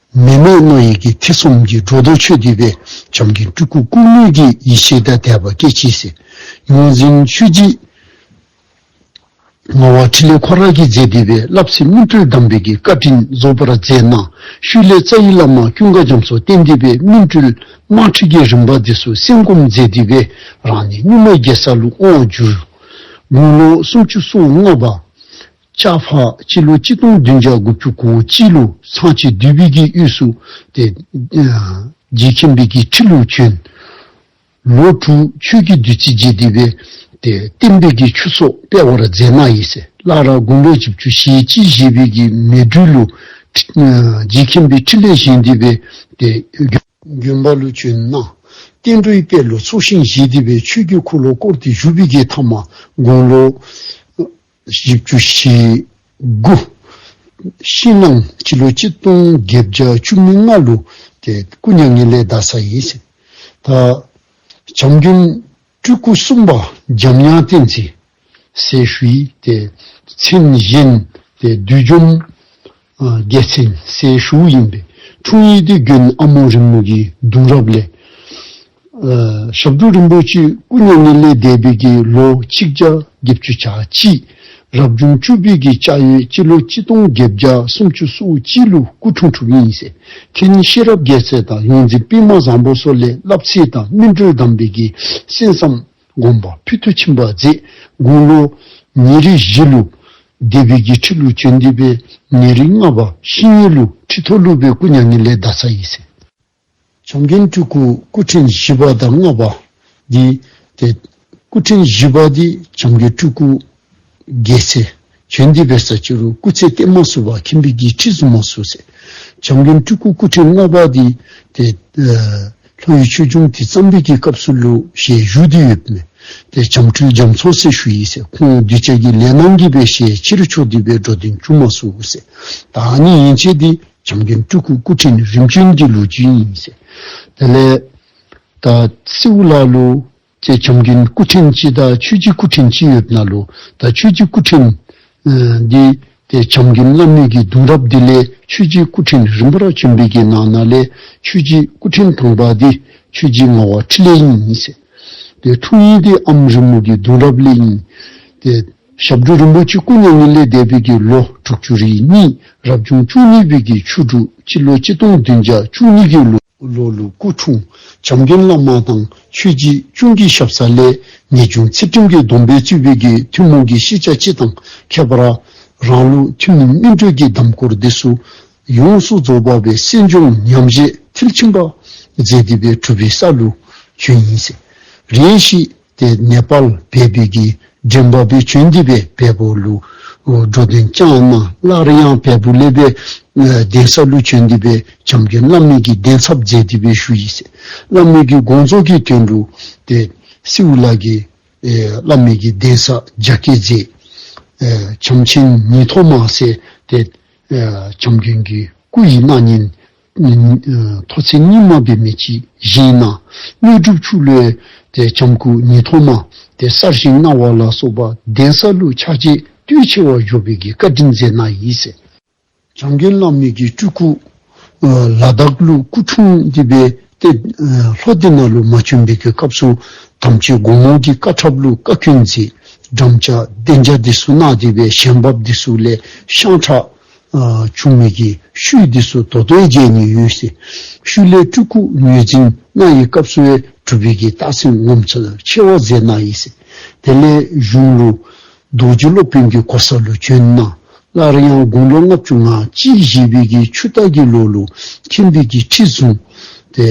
མི་དམངས་རྣོ་ཡིད་ཀྱི་ཐེ་ཚོམ་གྱི་སྒྲོ་འདོགས་ཆོད་འདུས་པའི་བྱམས་ཀྱི་སྤྲུལ་སྐུ་ཀུན་ནུས་ཀྱི་ཡེ་ཤེས་ཐ་དད་པ་སྐད་ཅིག་ཟིལ་གནོན་འཛིན་ཆོས་སྐྱིད། ངག་དབང་ཕྲིན་ལས་ཁོ་རང་གིས་མཛད་འདུས་པའི་བསླབ་ཚིག་སྨིན་གྲོལ་གདམས་པའི་གི་བཀའ་དྲིན་རྫོགས་པར་མཛད་གནང་ཤུལ་ལས་རྩ་ཡི་བླ་མ་ཀུན་དགའ་རྒྱམ་སོགས་བསྟེན་འདུས་པའི་སྨིན་གྲོལ་དམར་ཁྲིད་ཀྱི་རིམ་པ་འདི་སུ་གསན་སྒོམ་མཛད་འདུས་པའི་རང་ནས་གཉུག་མ་རྒྱལ་ས་ལུགས་དབང་བསྒྱུར། དགུང་ལོ་སུམ་ཅུ་སོ་ལྔ་པ། ལྕགས་ཕག་སྤྱི་ལོ་གཅིག་སྟོང་བདུན་བརྒྱ་དགུ་བཅུ་གོ་སྤྱི་ལོ་ཚངས་སྤྱི་བདུད་བྷིས་ཀྱི་དབུས་སུ་སྟེ། རྗེ་ཁྱིམ་བྷིས་ཀྱི་ཁྲི་ལུགས་བྱོན། ལོ་དྲུག་ཆོས་ཀྱི་བདུད་རྩི་རྗེ་འདི་བས་ཏེ་བསྟན་པའི་དགེ་ཆུ་སོགས་སྤེལ་བར་མཛད་མ་ཡིས། བླ་ར་དགོན་པའི་བཅུ་བཅུ་ཞེ་གཅིག་བཞེས་བྷིས་ཀྱི་མེ་སྦྲུལ་ལོ། རྗེ་ཁྱིམ་བྷིས་ཁྲི་ལས་བཞེངས་འདི་བས་ཏེ། གྱོན་པ་ལུགས་བྱོན། བསྟན་འགྲོའི་དཔལ་ལོ་ཚོགས་ཤིང་བཞེས་འདི་བས་ཆོས་ཀྱི་འཁོར་ལོ་བསྐོར་ཏེ་བཞུགས་བྷིས་ཀྱི་ཐ་མ་དགུང་ལོ། བཞི་བཅུ་ཞེ་དགུ། ཕྱི་ནང་སྤྱི་ལོ་གཅིག་སྟོང་བརྒྱད་བརྒྱ་བཅུ་གཉིས་ལྔ་ལོ་སྟེ་སྐུ་མྱ་ངན་ལས་འདའ་ས་ཡིན་ཟིན། ད་བྱམས་རྒྱུན་སྤྲུལ་སྐུ་གསུམ་པ་འཇམ་དབྱངས་བསྟན་འཛིན། སེར་བྷི། དེ་མཚན་གཞན་དེ་བདུད་འཇོམས། རྒྱལ་མཚན་སའི་ཧྲུའུ་ཡིན་པའི་འཁྲུངས་ཡིག་དེ་བརྒྱུད་ནས་ཨ་མོ་རི་མོ་གའི་གདུང་རབས་ལས། ཞབས་དྲུང་རིན་པོ་ཆེའི་སྐུ་ཉིད་ནི་ལས་འདས་པའི་གི་ལོ་གཅིག་རྒྱ་བརྒྱད་བཅུ་ཆ་གཅིག། རབ་བྱུང་བཅུ་པའི་གི་ལྕགས་ཡོས་སྤྱི་ལོ་གཅིག་སྟོང་བརྒྱད་བརྒྱ་སུམ་ཅུ་སོ་གཅིག་ལོའི་སྐུ་འཁྲུངས་གྲུབ་ཡིན་ཟེར། ཁྱེད་ཉིད་ཤེས་རབ་རྒྱས་ཚད་དང་ཡོངས་འཛིན་པད་མ་བཟང་པོ་སོགས་ལས་བསླབ་ཚད་དང་སྨིན་གྲོལ་གདམས་པའི་གི་གསན་བསམ། དགོན་པ་ཕུལ་དུ་ཕྱིན་པ་རྫས་དགུང་ལོ། ཉིན་རེ་བཞི་ལུགས། སྡེ་དཔོན་གྱིས་ཁྲི་ལུགས་བྱོན་འདི་པས་ཉིན་རེ་ལྔ་བ་ཤིང་ཉིན་ལུགས་ཁྲི་ཐོ་ལུགས་པའི་སྐུ་མྱ་ངན་ལས་བདག་ས་ཡིས་ཟིན། བྱམས་རྒན་སྤྲུལ་སྐུ་སྐུ་ཕྲེང་བཞི་པ་དང་ལྔ་པ་འདི། སྐུ་ཕྲེང་བཞི་པ་འདི་བྱམས་རྒན་སྤྲུལ་སྐུ། རྒྱལ་ཚེ། ཁྱོད་འདི་བེར་ས་བཅུ་རུ་སྐུ་ཚེ་བརྟན་མ་བསུ་བ་ཁྱིམ་བི་གྱི་ཁྲི་བཟུང་མ་བསུ་ཟེར། བྱམས་མགོན་སྤྲུལ་སྐུ་སྐུ་ཕྲེང་ལྔ་པ་འདི་དེ། ལྷོ་ཡི་ཆོས་འབྱུང་དེ་བརྩམས་བི་གྱི་སྐབས་སུ་ལུས་ཞེས་བཞུགས་འདི་ཡོད་མོད། དེ་བྱམས་སྤྲུལ་རྒྱ་མཚོ་སེར་ཤུལ་ཡིན་ཟེར་ཁོང་གདུལ་བྱ་གྱི་ལས་གནང་གི་བེར་ཞེས་ཕྱི་རུ་ཕྱོགས་འདི་བེར་འགྲོ་དོན་བཅུ་མ་བསུ་ཟེར། ད་ནི་ཡིན་ཆེས་འདི་བྱམས་མགོན་སྤྲུལ་སྐུ་སྐུ་ཕྲེང་ནི་རིམ་བྱོན་གྱི་ལོ་རྒྱུས་ཡིན་ཟེར། དེ་ལས། ད་སེའུ་ལ་ལུས། ཅེས་བྱམས་མགོན་སྐུ་ཕྲེང་སྤྱི་དང་ཆོས་རྗེ་སྐུ་ཕྲེང་སྤྱི་ཡོད་ན་ལོ་དང་ཆོས་རྗེ་སྐུ་ཕྲེང། འདི། དེ་བྱམས་མགོན་བླ་མེད་ཀྱི་གདུང་རབས་འདི་ལས་ཆོས་རྗེ་སྐུ་ཕྲེང་རིམ་པ་ར་ཆོན་འབེད་ཀྱི་ནང་ན་ལས་ཆོས་རྗེ་སྐུ་ཕྲེང་དང་པ་འདི་ཆོས་རྗེ་ངག་དབང་ཕྲིན་ལས་ཡིན་ཟེར། དེ་ཐུགས་ཡིན་ཏེ་ཨམ་རི་མོ་ཀྱི་གདུང་རབས་ལས་ཡིན། དེ། ཞབས་དྲུང་རིན་པོ་ཆེ་སྐུ་མྱ་ངན་ལས་འདས་བོད་ཀྱི་ལོ་དྲུག་ཅུ་རེ་གཉིས་རབ་བྱུང་བཅུ་གཉིས་བོད་ཀྱི་ཆུ་དྲུག་སྤྱི་ལོ་སྤྱི་སྟོང་བདུན་བརྒྱ་བཅུ་གཉིས་ཀྱི་ལོ། ལོ་ལོ་སྐུ་འཁྲུངས་བྱམས་མཁན་བླ་མ་དང་ཆོས་རྗེ་གཅུང་གི་ཞབས་ས་ལས་ངེད་ཅུང་ཚེ་ཁྲིམས་ཀྱི་སྡོམ་པའི་གཙོས་བོད་ཀྱི་ཐུན་མོང་གི་ཤེས་བྱ་སྤྱི་དང་ཁྱད་པར་རང་ལུགས་ཐུན་མིན་སྨིན་གྲོལ་གྱི་གདམས་སྐོར་འདི་སུ་ཡོངས་སུ་རྫོགས་པ་བའི་གསན་སྦྱོང་ཉམས་བཞེས་མཐིལ་ཕྱིན་པ། མཛད་འདི་པའི་གྲུབ་པའི་ས་ལུགས་བྱོན་ཡིན། རེ་ཞིག་ཏེ་ནེ་པཱལ་བལ་བོད་ཀྱི་འགྲེམས་པ་པོའི་ཆོས་འདི་པའི་བལ་བོ་ལུགས་འགྲོ་དོན་བསྐྱངས་རྣམས་སླར་ཡང་བལ་བོ་ཀླད་པའི་གདན་ས་ཀླུ་ཆོས་འདི་པའི་བྱམས་ཀྱི་བླ་མེད་ཀྱི་གདན་ཚབ་མཛད་འདི་པའི་ཞུ་ཡིག་སེ་བླ་མེད་ཀྱི་དགོངས་རྫོགས་ཀྱི་དོན་དྲུག་སྟེ་སེའུ་ལགས་ཀྱི་བླ་མེད་ཀྱི་གདན་ས་རྒྱ་སྐད་མཛད། བྱམས་ཆེན་ཉིད་ཐོག་མ་སེ་སྟེ་བྱམས་རྒྱུན་གྱི་སྐུ་ཡི་སྣ་ཉིན་ཐོག་ཚད་གཉིས་སྨྲ་བའི་མི་གཅིག་བཞིན་ན། དངོས་གྲུབ་ཆུ་བློའི་ལྕམ་སྐུ་ཉིས་ཐོག་མ། དེ་གསར་བཞིན་རྣ་བ་ལ་སོགས་པ་གདན་ས་ལུགས་ཆགས་རྗེས་བསྟུད་ཆེ་བ་བཞོ་བི་གི་བཀའ་དྲིན་མཛད་ན་ཡིན་ཟེར། བྱམས་རྒན་བླ་མེད་ཀྱི་སྤྲུལ་སྐུ། ལ་དྭགས་ལུགས་སྐུ་འཁྲུངས་འདི་པའི་སྟེ། ལྷོ་སྡེ་ན་ལུགས་མ་བྱོན་པི་གི་སྐབས་སུ་དམ་ཆོས་དགོངས་ལོངས་ཀྱི་བཀའ་འཁྲབ་ལུགས་བཀའ་ཁྱོད་མཛད། འགྲམ་བཅའ་སྡེ་འཇའ་སྡེ་སུ་ནག་སྡེ་བའི་ཞལ་འབབ་སྡེ་སུ་ལས་ཤངས་ཁྲག། ཆུང་མིག་གིས་ཤུལ་འདི་སུ་དོ་དོའི་རྗེས་ནས་ཡོད་ཟེར། ཤུལ་ལས་སྤྲུལ་སྐུ་ངོས་འཛིན་གནང་ཡི་སྐབས་སུ་བའི་གྲུབ་རིག་གི་རྟགས་མཚན་ངོམ་ཚུལ་ཆེ་བ་མཛད་གནང་ཡིན་ཟེར། དེ་ལས་གཞུང་ལུགས། རྡོ་རྗེ་སློབ་དཔོན་གྱི་གོ་ས་ལོ་བྱོན་གནང། སླར་ཡང་དགུང་ལོ་ལྔ་བཅུ་ང་གཅིག་བཞེས་པའི་གི་ཆུ་རྟ་གི་ལོ་ལུགས་ཁྱིམ་སྤེལ་གྱི་ཁྲིད་བཟུང། དེ་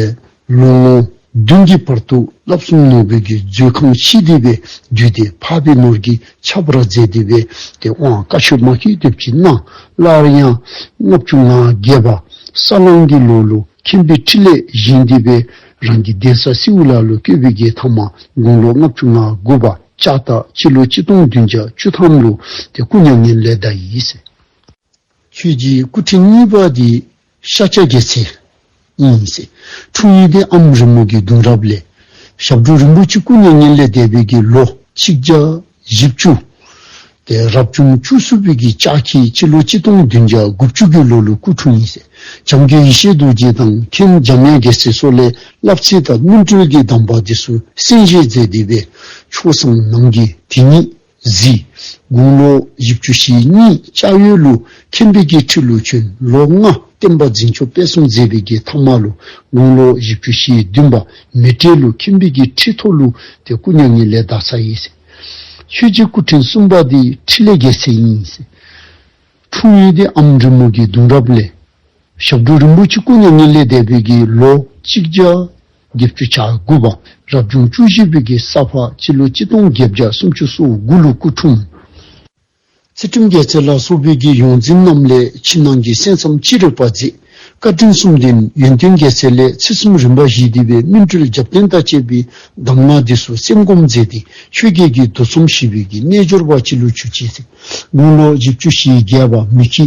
ལོ་ངོ་བདུན་གྱི་བར་དུ་བསླབ་གསུམ་ནོར་བུ་རྒྱུའི་མཛོད་ཁང་ཕྱི་བདེ་བའི་རྒྱུད་དེ་འཕགས་པའི་ནོར་གྱི་ཆབ་བྲག་རྫས་བདེ་བའི་དེ་དབང་བཀའ་ཆོས་མ་ཤེས་སྡེབས་ཀྱིས་གནང། སླར་ཡང་ལྔ་བཅུ་ང་བརྒྱད་པ་ས་གླང་གི་ལོ་ལོ་མཁྱེན་པའི་ཁྲི་ལས་བཞེངས་བདེ་བའི་རང་གི་གདན་ས་སེའུ་ལ་ལོ་བསྐྱོད་པའི་རྒྱལ་ཐང་མ་དགུང་ལོ་ལྔ་བཅུ་ང་དགུ་པ་ལྕགས་སྟག་སྤྱི་ལོ་གཅིག་སྟོང་བདུན་བརྒྱ་བཅུ་ཐམ་ལོ་དེ་སྐུ་མྱ་ངན་ལས་འདའ་ཡིས། ཆོས་རྗེའི་སྐུ་ཕྲེང་གཉིས་པ་དེ་ཤཱཀྱ་རྒྱལ་ཚེ་ཡིན་ནམ་སྲིད་འཁྲུངས་ཡུལ་ཏེ་ཨམ་རི་མོ་གི་གདུང་རབས་ལས། ཞབས་དྲུང་རིན་པོ་ཆེ་སྐུ་མྱ་ངན་ལས་འདས་པའི་གི་ལོ་ཆིག་བརྒྱ་བཞི་བཅུ། དེ་རབས་བྱུང་བཅུ་གསུམ་པའི་གི་ལྕགས་ཁྱི་སྤྱི་ལོ་གཅིག་སྟོང་བདུན་བརྒྱ་དགུ་བཅུ་དགུའི་ལོ་ལོ་སྐུ་འཁྲུངས་ཡིན་སྲིད་བྱམས་རྒྱུད་ཡེ་ཤེས་རྡོ་རྗེ་དང་མཁན་འཇམ་དབྱངས་རྒྱལ་སྲས་སོགས་ལས་བསླབ་ཚེ་དང་སྨིན་གྲོལ་གྱི་གདམས་པ་དེ་སུ་གསན་བཞེས་མཛད་བསྡུས་པའི་ཆོས་བཟང་ནང་གི་དེ་ཉིད། གཟིགས། དགུང་ལོ་བཞི་བཅུ་ཞེ་གཉིས་ལྕགས་ཡོས་ཀླུ་མཁྱེན་དཔལ་དགེའི་ཁྲི་ལོ་ཆུ་ལོ་ལྔ་བསྟན་པ་འཛིན་ཆོག་དཔལ་གསུམ་མཛད་པའི་རྒྱལ་ཐང་མ་ལོ་དགུང་ལོ་བཞི་བཅུ་ཞེ་བདུན་པ་མི་ཏྲའི་ཀླུ་མཁྱེན་དཔལ་དགེའི་ཁྲི་ཐོག་ཀླུ་དེ་སྐུ་མྱ་ངན་ལས་འདའ་ས་ཡིན། ཆོས་རྗེ་སྐུ་ཕྲེང་གསུམ་པ་དེ་ཁྲི་ལས་བརྒལ་ཚད་ཡིན། འཁྲུངས་ཡུལ་དེ་ཨམ་འབྲི་མོ་དགེ་འདུན་རབ་ལས་ཞབས་དྲུང་རིན་པོ་ཆེ་སྐུ་མྱ་ངན་ལས་འདས་པའི་དགེ་ལོ་གཅིག་བརྒྱ། བརྒྱད་བཅུ་ཆ་དགུ་པ་རབ་བྱུང་བཅུ་བཞི་པའི་གེ་སར་བར་སྤྱི་ལོ་གཅིག་སྟོང་བརྒྱད་བརྒྱ་སུམ་ཅུ་སོ་དགུ་ལོའི་སྐུ་འཁྲུངས། ཚེ་ཁྲིམས་རྒྱལ་རྩེ་ལ་སོགས་བོད་ཀྱི་ཡོངས་འཛིན་རྣམས་ལས་ཕྱི་ནང་གི་གསན་བསམ་ཅི་རིགས་པ་མཛད། བཀའ་དྲིན་གསུམ་ལྡན་ཡོན་ཏན་རྒྱལ་རྩེ་ལས་ཚེ་གསུམ་རིམ་པ་བཞིས་བསྡུས་པའི་སྨིན་གྲོལ་རྒྱབ་བརྟེན་དང་བཅས་པའི་གདམས་ངག་འདུས་སོ་སེམས་སྒོམ་མཛད་དེ་ཆོས་བརྒྱད་ཀྱི་འདུ་འཚོམ་ཞི་བས་ཀྱི་རྣལ་འབྱོར་པ་སྤྱི་ལོ་བཅུ་གཅིག་ཚེས་དགུང་ལོ་བཞི་བཅུ་ཞེ་བརྒྱད་པ་མི་ཁྱི་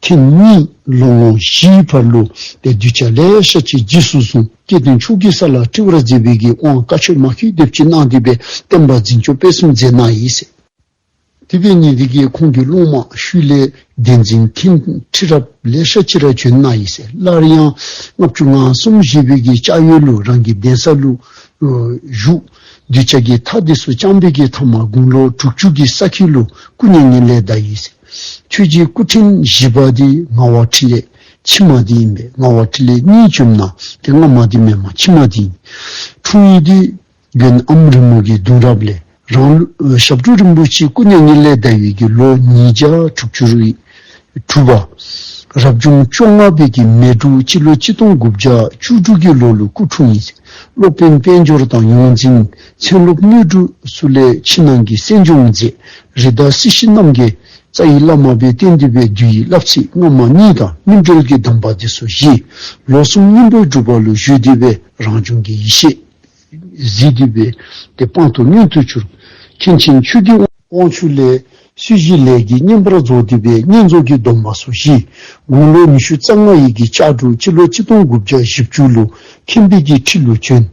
ཐེངས་གཉིས་ལོ་ངོ་བཞིའི་བར་ལུས་པའི་གདུལ་བྱ་ལས་ཤ་ཆེ་རྗེས་སུ་བཟུང་སྐྱེ་བདུན་ཕྱུག་གི་ས་ལ་ཏྲི་བ་ར་རྫས་བུད་ཀྱི་དབང་བཀའ་ཆོས་མ་ཤུལ་འདེབས་ཀྱིས་གནང་བསྡུས་པའི་བསྟན་པ་འཛིན་སྐྱོང་སྤེལ་གསུམ་མཛད་ན་ཡིན་སྲིད། དེ་བས་ཉིན་དེ་གའི་ཁོང་གི་སློང་མ་ཤུལ་ལས་བདེན་འཛིན་ཐིང་ཁྲི་རབས་ལས་ཤ་ཆེ་ར་བྱོན་ན་ཡིན་སྲིད་སླར་ཡང་ལྔ་བཅུ་ང་གསུམ་བཞེས་བོད་ཀྱི་ལྕགས་ཡོས་ལུགས་རང་གི་གདན་ས་ལུགས་བཞུགས་གདུལ་བྱ་གྱི་མཐའ་འདི་སུ་ཅང་འབད་ཀྱི་མཐའ་མ་དགུང་ལོ་དྲུག་ཅུ་གྱི་ས་ཁྱི་ལུགས་སྐུ་བརྙན་ངན་ལས་བདའ་ཡིན་སྲིད། ཁྱོད་ཀྱི་སྐུ་ཕྲེང་བཞི་པ་དེ་ལྔ་བ་ཕྲིན་ལས་ཕྱི་མ་དེ་ཡིན་པས་ལྔ་བ་ཕྲིན་ལས་གཉིས་བཅོམ་ན་དེ་སྔ་མ་དེ་མེད་མ་ཕྱི་མ་དེ་ཡིན། འཁྲུངས་ཡུལ་དེ་རྒྱུན་ཨམ་རི་མོ་གི་གདུང་རབས་ལས་རང་ཞབས་དྲུང་རིན་པོ་ཆེའི་སྐུ་མྱ་ངན་ལས་འདའ་ཡུལ་གྱི་ལོ་ཉིས་བརྒྱ་དྲུག་ཅུ་རུ་ཡིན། གྲུབ་པ། རབ་བྱུང་བཅོ་ལྔ་པའི་གི་མེ་དྲུག་སྤྱི་ལོ་གཅིག་སྟོང་དགུ་བརྒྱ་བཅུ་དྲུག་གི་ལོ་ལོའི་སྐུ་འཁྲུངས་ཡིན། སློབ་དཔོན་དཔལ་འབྱོར་དང་ཡོངས་འཛིན་ཚན་སློབ་སྣོད་དྲུག་སུ་ལས་ཕྱི་ནང་གི་གསན་སྦྱོང་མཛད་རི་དྭགས་སྲིད་ཞི་རྣམ་རྒྱལ་རྩ་ཡི་བླ་མ་པའི་གཏན་འདུས་པའི་རྒྱུ་ཡི་བསླབ་ཚིག་སྔ་མ་གཉིས་དང་སྨིན་གྲོལ་གྱི་གདམས་པ་འདི་སོ་བཞི། ལོ་གསུམ་སྙིང་པོའི་སྒྲུབ་པ་ལུགས་བཞུགས་འདུས་པའི་རང་བྱུང་གི་ཡེ་ཤེས། གཟིགས་འདུས་པའི་དེ་སྤངས་དུ་མྱོང་ཐོས་ཆུར། མཁན་ཆེན་ཆོས་སྐྱིད་དབང་ཕྱུག་ལས། སྲིད་བཞིའི་ལས་ཀྱི་བསྙེན་པར་རྫོགས་བསྡུས་པའི་བསྙེན་རྫོགས་ཀྱི་སྡོམ་པ་སོ་བཞི། དགུང་ལོ་ཉི་ཤུ་རྩ་ལྔ་ཡི་གི་ལྕགས་འབྲུག་སྤྱི་ལོ་གཅིག་སྟོང་དགུ་བརྒྱ་བཞི་བཅུ་ལོ་ཁེ་འབེད་ཀྱི་ཁྲི་ལོ་གྱོན།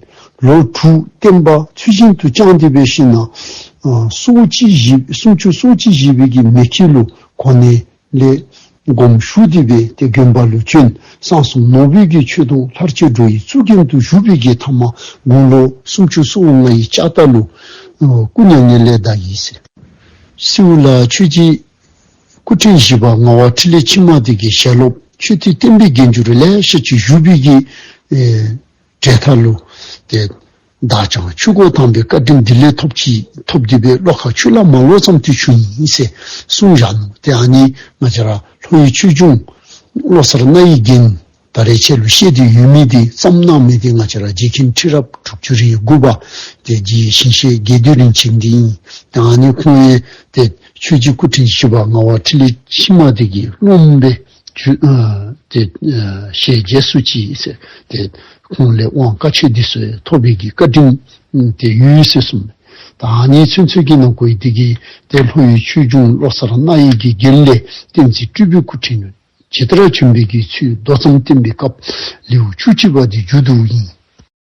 ལོ་དྲུག་བསྟན་པ་ཚུལ་བཞིན་དུ་བསྐྱངས་ཏེ་བའི་ཤིང་ནགས། སོ་བཅུ་བཞི་སུམ་ཅུ་སོ་གཅིག་བཞི་བའི་གི་མེ་ཁྱི་ལོ་གོ་ནས་ལས། སྒོམ་ཞུགས་བསྡུས་པའི་དེ་དགོན་པ་ལུ་ཅུན་སངས་གསུམ་ནོར་བུས་ཀྱི་ཆོས་དུང་ལྷར་ཆོས་འགྲོ་ཡི་གཙུག་རྒྱན་དུ་བཞུགས་པའི་རྗེ་ཐ་མ་དགུང་ལོ་སུམ་ཅུ་སོ་ལྔ་ཡི་ལྕགས་རྟ་ལུ་སྐུ་མྱ་ངན་ལས་འདའ་ཡིན་ཟེར། སེའུ་ལ་ཆོས་རྗེ་སྐུ་ཕྲེང་བཞི་པ་ངག་དབང་ཁྲི་ལས་ཕྱི་མ་དེ་གའི་ཞལ་སློབ་ཆོས་མཐུས་བསྟན་པའི་རྒྱན་གྱུར་ལས་ཕྱི་ཆོས་ཞུགས་བསྡུས་ཀྱི། གྲལ་མཐའ་བསླུ། དེ་བདག་ཅག་ཆོས་སྒོ་དམ་པའི་བཀའ་དྲིན་འདི་ལས་ཐོབ་ཀྱིས་ཐོབ་བགྱིད་པའི་བློ་ཁ་ཆུ་ལ་མ་ལོག་ཙམ་དུས་ཆུ་ཡིན་ཞེས་གསུངས་བཞག་ནོ། དེ་ཨ་ནི་ང་ཅི་ར་ལྷོ་ཡི་ཆོས་འབྱུང། བློ་གསར་རཏྣ་ཡི་རྒྱན། ད་རེས་ཆེ་ལུ་བཤད་དུས་ཡུལ་མི་དེ་ཙམ་སྣང་མེད་དེ་ང་ཅི་ར་རྗེ་མཁན་ཁྲི་རབ་དྲུག་ཅུ་རེའི་དགུ་བ་དེ་རྗེ་ཞིང་གཤེགས་རྒྱལ་བདུད་རིན་ཆེན་འདི་ཡིན། དེ་ཨ་ནི་ཁོང་ཡན་དེ་ཆོས་རྗེ་སྐུ་ཕྲེང་བཞི་པ་ང་བ་ཁྲི་ལས་ཕྱི་མ་དེ་གིས་རློམ་པའི། ཅེས་ཞལ་རྒྱས་སུ་མཆིས། དེ་ཁོང་ལས་དབང་བཀའ་ཆོས་འདི་སོས་ཐོབ་རིགས་ཀྱི་བཀའ་དྲིན། དེ་ཡུལ་ཡུལ་སྲིད་གསུམ་དང་ནི་ཚུལ་འཚོལ་གྱིས་ནང་སྐོར་ཡི་གེ་བརྒྱད་དེ་ལྷོ་ཡུལ་ཆོས་འབྱུང་བློ་གསར་རཏྣ་ཡིག་གི་དགེ་ལེགས་བསྟན་འཛིན་སྤྲུལ་པའི་སྐུ་ཕྲེང་ནས་ཇི་ལྟར་བྱོན་པའི་དགེ་ཚུལ་མདོ་ཙམ་བསྟན་པའི་སྐབས་ལེའུ་བཅུ་གཅིག་པ་འདི་མཇུག་ཏུ་ཡིན།